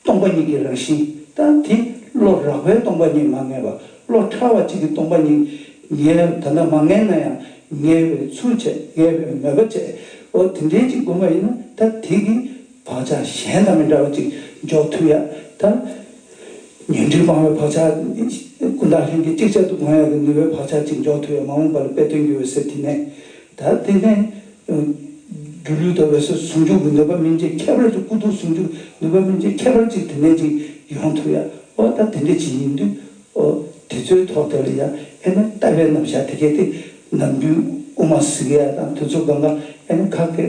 སྟོང་པ་ཉིད་ཀྱི་རང་བཞིན་དང་དེ་བློ་རགས་པའི་སྟོང་པ་ཉིད་མ་ངེས་པ་བློ་ཕྲ་བ་གཅིག་གི་སྟོང་པ་ཉིད་ངེས་ན་ད་ལྟ་མ་ངེས་ན་ཡང་ངེས་པའི་ཚུལ་བྱས་ངེས་པའི་མོས་པ་བྱས་འོ་དེ་འདྲའི་གཅིག་བསྒོམ་པ་ཡིན་ན་ད་དེ་གི་བག་ཆགས་གཞན་དང་མི་འདྲ་བ་གཅིག་འཇོག་ཐུབ་ཡ་ད། ཉོན་སྒྲིབ་སྤང་བའི་བག་ཆགས་ཀུན་བརྟགས་ལྷན་སྐྱེས་གཅིག་ཆར་དུ་བསྒོམ་ཡ་གི་ནུས་པའི་བག་ཆགས་གཅིག་འཇོག་ཐུབ་ཡ་མ་འོངས་པ་ལ་དཔེ་སྟོན་རྒྱུ་བས་ཟེར་དེ་ནས་ད་དེ་ནས་སྒྱུ་ལུས་དང་འོད་གསལ་ཟུང་འཇུག་གི་ནུས་པ་སྨིན་བྱེད་ཁྱད་པར་གྱི་སྐུ་གདུང་ཟུང་འཇུག་ནུས་པ་སྨིན་བྱེད་ཁྱད་པར་ཅིག་དེ་ནས་ཅིག་ཡོང་ཐུབ་ཡ་ཨོ་ད་དེ་འདྲ་ཅིག་ཡིན་དུས་ཨོ་དེ་ཚོའི་ཐོག་དེ་ལ་ཡང་ཨེ་ན་ལྟ་བའི་རྣམ་བཞག་དེ་གལ་ཏེ་ནམ་རྒྱུན་དབུ་མ་ཟིག་ཡ་དང་དུས་ཚོད་གང་ག་ཨེ་ན་ཁག་ཁེ་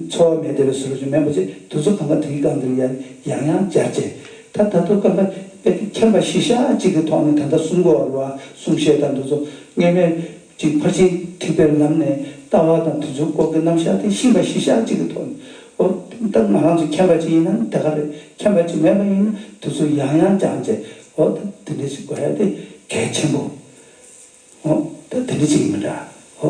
འཚོ་བ་མེད་དེ་བས་སུ་རུ་ཅིག་མེད་པ་ཅིག་དུས་ཚོད་གང་ག་དེ་གི་སྒང་དེ་ལ་ཡང་ཡང་ཡང་བསྐྱར་བྱས་ད་ད་དུ་གང་ག་དཔེ་དེ་མཁྱེན་པ་གཞི་ཤ་ཅིག་གི་ཐོག་ནས་ད་ལྟ་གསུམ་གོ་བ་རུ་བ་གསུམ་བཤད་དང་དུས་ཚོད་སྔས་མའི་གཅིག་ཕར་ཕྱིན་དྲིས་པའི་ལམ་ནས་ལྟ་བ་དང་དུས་ཚོད་འགོག་གི་རྣམ་གཞག་དེ་ཤིང་པ་བཞི་ཤག་གཅིག་གི་ཐོག་ནས་འོ་དེ་ད་ང་རང་ཚོ་མཁྱེན་པ་ཅིག་ཡིན་ན་དེ་ག་རེད་མཁྱེན་པ་ཅིག་མེད་པ་ཡིན་ན་དུས་ཚོད་ཡང་ཡང་སྦྱངས་རྗེས་འོ་ད་དེ་འདྲ་ཞིག་དགོས་ཡ་དེ་གལ་ཆེན་པོ་འོ་ད་དེ་འདྲ་ཅིག་ཡིན་པ་འདྲ་འོ།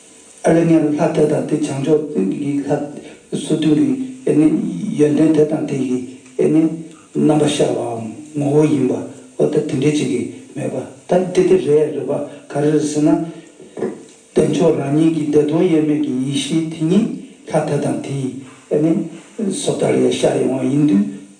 ཨ་ལས་ངན་ལྷ་དེ་དང་དེ་བྱང་ཕྱོགས་ཀྱི་ལྷ་སོ་བདུན་གྱི་ཡོན་ཏན་དེ་དང་དེ་ཡི་རྣམ་པ་ཤར་བའམ་ངོ་བོ་ཡིན་པ་འོ་ད་དེ་འདྲས་ཅིག་གིས་མེད་པ་ད་ནི་དེ་དེ་རེད་རེད་པ་ག་རེ་རེད་ཟེར་ན། བདེ་མཆོག་རང་ཉིད་ཀྱི་བདེ་སྟོང་དབྱེར་མེད་ཀྱི་ཡེ་ཤེས་དེ་ཉིད་ལྷ་དེ་དང་དེ་ཡི་བཟོ་ལྟར་ཡང་ཤར་ཡོང་བ་ཡིན་དུས་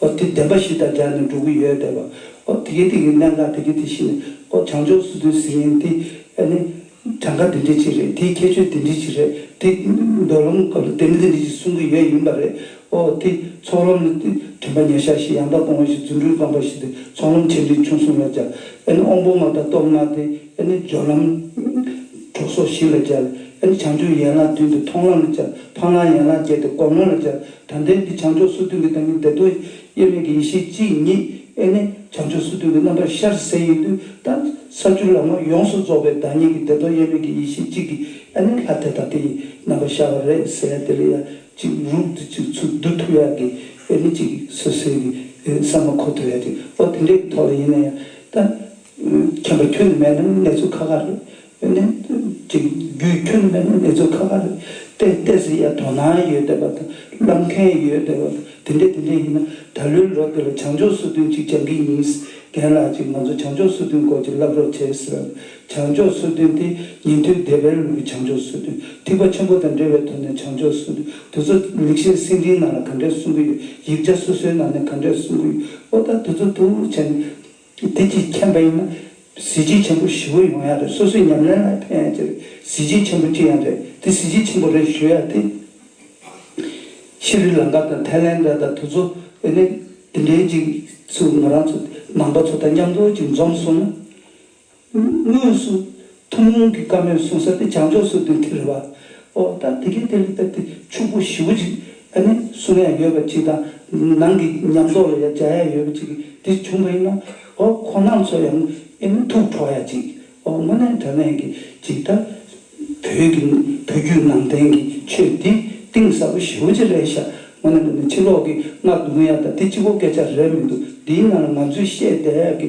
ཨོ་དེ་བདེན་པ་ཞིག་དང་སྦྲགས་ནས་འགྲོ་གི་ཡོད་བསྡད་པ། ཨོ་དེ་གའི་དེ་གའི་གནད་འགག་དེ་གའི་དེ་བཞིན་ནས་ཨོ་བྱང་ཕྱོགས་སུ་དེ་ཟེར་ཡིན་དེ་ཨ་ནི། གྲངས་ཀ་འདི་འདྲི་ཅིག་རེད་དེའི་ཁྱད་ཆོས་འདི་འདྲི་ཅིག་རེད་དེ། འདོད་ལམ་སྐབས་ལ་དེ་འདི་འདྲི་ཅིག་གསུང་གི་ཡོད་ཡིན་པ་རེད། ཨོ་དེ་ཚོགས་ལམ་ལ་དེ་དྲན་པ་ཉེ་ཤག་ཞིག་ཡང་དག་སྤོང་བ་ཞིག་རྫུ་འཕྲུལ་སྤངས་པ་ཞིག་དེ་ཚོགས་ལམ་ཆེ་འབྲིང་ཆུང་གསུམ་ལ་སྦྱར། ཨ་ནི་དབང་པོ་ལྔ་དང་སྟོབས་ལྔ་དེ་ཨ་ནི་སྦྱོར་ལམ། གྲོགས་སོགས་བཞི་ལ་སྦྱར། ཨ་ནི་བྱང་ཆུབ་ཡན་ལག་བདུན་དེ་མཐོང་ལམ་ལ་སྦྱར། འཕང་ལམ་ཡན་ལག་བརྒྱད་དེ་སྒོམ་ལམ་ལ་སྦྱར། དོན་ལྡན་གྱི་བྱང་ཕྱོགས་སུ་སྟོན་གྱི་བདག་ཉིད་བདེ་སྟོང་དབྱེར་མེད་ཀྱི་ཡེ་ཤེས་གཅིག་ཉིད་ཨེ་ནི་བྱང་ཕྱོགས་སུ་སྟོན་གྱི་རྣམ་པར་ཤར་གསལ་ཡིན་དུས་ད་ས་བཅུ་ལ་ངོས་ཡོངས་སུ་རྫོགས་པའི་བདག་ཉིད་ཀྱི་བདེ་སྟོང་དབྱེར་མེད་ཀྱི་ཡེ་ཤེས་གཅིག་གིས་ཨེ་ནི་ལྷ་དེ་དང་དེ་ཡི་རྣམ་པར་ཤར་བ་རེས་གསལ་དེ་ལ་ཡང་གཅིག་རུག་དེ་གཅིག་ཚུགས་བདུད་ཐུགས་ཡག་གི་ཨེ་ནི་གཅིག་སོ་སོའི་གི་ས་མ་ཁོ་ཐུགས་ཡག་གཅིག་ཨོ་དེ་འདྲའི་གི་ཐོག་ལ་ཡིན་ན་ཡང་ད། མཁྱེན་པ་ཁྱོད་ནི་མེད་ན་ནི་གནས་ཚུལ་ཁ་ཁ་རེད་གནས་ཚུལ་བརྒྱུད་ཁྱོན་ལྡན་གནས་ཚུལ་ཁག་ཁག་རེད། དེ་ལྟས་ཟིན་ཡང་དོ་སྣང་ཡོད་བསྡད་པ་དང་བསླབ་མཁན་ཡོད་བསྡད་པ་དེ་འདྲས་དེ་འདྲས་ཡིན་ན་ད་ལོའི་ལོ་དེ་ལ་བྱང་ཕྱོགས་སུ་དོན་གཅིག་སྦྱང་གི་ཡིན། རྒན་ལགས་ཀྱིས་ང་ཚོ་བྱང་ཕྱོགས་སུ་དོན་སྐོར་ཅིག་བསླབ་རོགས་བྱེད་ཟེར་བས་བྱང་ཕྱོགས་སུ་དོན་དེ་ཉིན་ཐོའི་སྡེ་པའི་ལུགས་ཀྱི་བྱང་ཕྱོགས་སུ་དོན་ཐིག་པ་ཆེན་པོ་དང་འབྲེལ་བའི་ཐོག་ནས་བྱང་ཕྱོགས་སུ་དོན་དེ་ཚོ་ལེགས་བཤད་སེང་ལྡིང་ནང་ལ་ག་འདྲས་གསུང་གི་ཡོད་ཡིག་ཆ་སོ་སོའི་ནང་ནས་ག་འདྲས་གསུང་གི་ཡོད་ཨོ་ད་དེ་ཚོ་ཐུགས་ལྷུར་བྱས་ནས། དེ་ཀྱིས་མཁྱེན་པ་ཡིན་ན་གཟི་བརྗིད་ཆེན་པོ་བཞི་བོ་ཡོང་ཡག་རེད་སོ་སོའི་ཉམས་ལེན་ལ་ཕན་ཡག་ཅི་རེད་གཟི་བརྗིད་ཆེན་པོ་ཅི་ཡང་རེད་དེ་གཟི་བརྗིད་ཆེན་པོ་རེད་ཞུ་ཡག་དེ་ཤི་རི་ལང་ཀ་དང་ཐའི་ལན་ར་དང་དུ་ཚོ་ཨེ་ནི་དེ་འདྲའི་ཅིག་ཚུགས་ང་རང་ཚོ་ནང་པ་ཚོ་དང་མཉམ་དུ་ཅིག་འཛོམས་སོང་ན། དངོས་སུ་ཐུན་མོང་གི་བཀའ་མོལ་གསུང་ས་དེ་བྱང་ཕྱོགས་སུ་འདོན་ཐེངས་རེ་བ། ཨོ་ད་དེ་གས་དེ་ལ་བཏབ་སྟེ་ཕྱུག་པོ་བཞི་བོ་ཅིག་ཨ་ནི་གསུང་ཡ་ཡོད་པ་ཅིག་དང་ནང་གི་ཉམས་རྟོགས་ལ་ཡ་སྦྱར་ཡ་ཡོད་པ་ཅིག་གིས་འདིར་བྱུང་བ་ཡིན་ན་ཨོ་ཁོ་ནང་ཚོ་ཡང་ཨེ་ནི་ཐུགས་ཁྲོ་ཡ་ཅིག་ཨོ་དངོས་གནས་དོན་ལན་གྱི་ཅིག་ད་བོད་ཀྱི་བོད་བརྒྱུད་ནང་བསྟན་གྱི་ཆོས་འདི་གཏིང་ཟབ་པོ་བཞི་བོ་ཅིག་རེད་ཤག་དངོས་གནས་པ་ནི་ཕྱི་ལོག་གི་སྔགས་རྡུང་ཡ་དང་དེ་ཅི་བོ་སྐད་ཆ་རེད་མི་འདུག་འདིའི་ནང་ལ་ང་ཚོས་བཤད་བསྡད་ཡ་གི་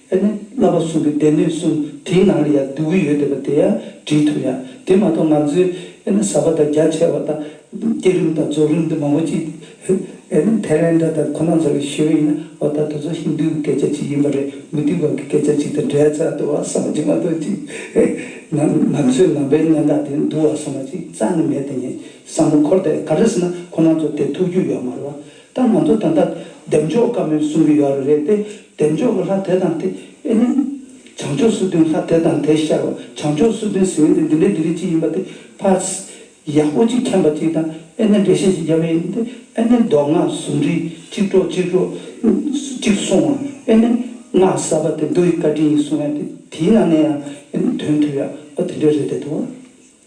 ཨེ་ནི། བསླབ་པ་གསུམ་གྱི་སྡེ་སྣོད་གསུམ་དེའི་ནང་ལ་ཡང་འདུས་བུ་ཡོད་བསྡད་པ་དེ་ཡང་བྲིས་ཐུབ་ཡང་དེ་མ་གཏོགས་ང་ཚོའི་ཨེ་ནི་ཟབ་པ་དང་རྒྱ་ཆེ་བ་དང། བསྐྱེད་རིམ་དང་རྫོགས་རིམ་འདི་མང་པོ་ཅི། ཨེ་ནི། དྷེ་རན་དྲ་དང་ཁོ་ན་ཚོ་ལ་ཞུས་པ་ཡིན་ན་འོ་ད་དུ་ཚོ་ཧིན་དྷུའི་སྐད་ཆ་ཅིག་ཡིན་པ་རེད་མུ་ཏིག་བར་གྱི་སྐད་ཆ་ཅིག་དང་འབྲེལ་ཚ་འདུ་བ་ཟ་མ་ཅིག་མ་གཏོགས་ཅི། ཨེ་ནི། ང་ཚོའི་ནང་པའི་གནས་སྟངས་དེ་འདུ་བ་ཟ་མ་ཅིག་རྩ་ནས་མེད་དེ་ནས་བསམ་བློ་འཁོར་དེ་ག་རེ་ཟེར་ན་ཁོ་ན་ཚོ་དེ་ཐུགས་རྒྱུས་ཡོད་མ་རེད་བ། ད་ང་ཚོ་ད་ལྟ་བདེ་མཆོག་དཀར་མོའི་གསུང་གི་ཡོ་རོ་རེད་དེ་བདེ་མཆོག་གི་ལྷ་དེ་དང་དེ་ཨེ་མིན། བྱང་ཕྱོགས་སུ་དོན་ལྷ་དེ་དང་དེ་ཤར་བ་བྱང་ཕྱོགས་སུ་དོན་ཟེར་བའི་དེ་འདི་འདྲའི་འདི་རིགས་ཅིག་ཡིན་པ་དེ་ཕར། ཡག་པོ་ཅིག་མཁྱེན་པ་ཅིག་དང་ཨེ་ནས་འགྲེལ་བཤད་ཅིག་རྒྱབ་ཨེ་ནས་དེ་ཨེ་ནས་མདོ་སྔགས་ཟུང་འབྲེལ་གཅིག་གྲོགས་གཅིག་གྲོགས་གཅིག་གསུང་བ་ཨེ་ནས་སྔགས་གསར་པ་དེ་འདུག་ཡི་བཀའ་དྲིན་ཡིན་གསུང་ཡ་དེ་དེའི་ནང་ནས་ཡང་ཨེ་ནས་དོན་ཐུབ་ཡག་པོ་དེ་འདྲའི་རེད་དེ་དོ།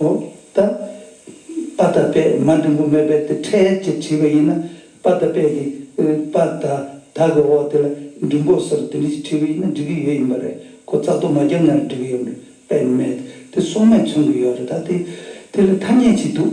འོ། ད། པ་ད་པས་མ་འབྲིང་པོ་མེད་པས་དེ་ཕྲད་ཅེས་དྲིས་པ་ཡིན་ན། པ་ད་པས་ཀྱི། པ་ད། ད་གི་འོག་དེ་ལ་འབྲིང་པོ་ཟེར་དེ་འདྲི་ཞེས་དྲིས་པ་ཡིན་ན་འགྲིག་གི་ཡོད་ཡིན་པ་རེད་གོ་རྩག་ཏུ་མ་བརྒྱབ་ན་འགྲིག་གི་ཡོད་པས་མེད་དེ་སོགས་མས་མཚོན་གྱི་ཡོད་རེད་ད་དེ། དེ་ལ་ཐ་སྙད་ཅིག་འདུག།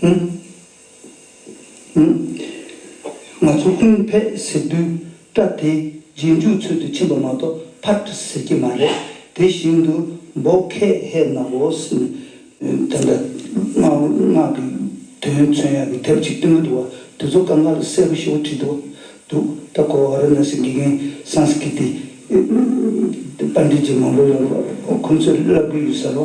ཧུན། ཧུན། ང་ཚོ་ཧུན་བྷེ་ཟེར་དུས་སྐྲ་དེ་རྗེས་འཇུག་ཚོད་དུ་ཕྱིན་པ་མ་གཏོགས་ཕར་ཀྲི་ཟེར་གྱི་མ་རེད། དེ་བཞིན་དུ་འབོ་ཁེ་ཧེ་ནག་བོ་སི་ནི་དེ་འདྲ་སྔགས་ཀྱི་དོན་མཚོན་ཡག་གི་དེབ་ཅིག་སྟོན་གྱི་འདུག་བ་དེ་ཚོ་ཀ་ངྷ་ལ་གསལ་པོ་ཞེ་བོ་བྲིས་འདུག་འདུག་ད་གོ་བ་ར་ན་སི་དགེ་རྒན་སང་སི་ཀི་ཏི་པ་འདྲི་རྗེས་མང་པོ་ལ་ཁོང་ཚོས་བསླབ་གི་ཡོད་ས་རུ།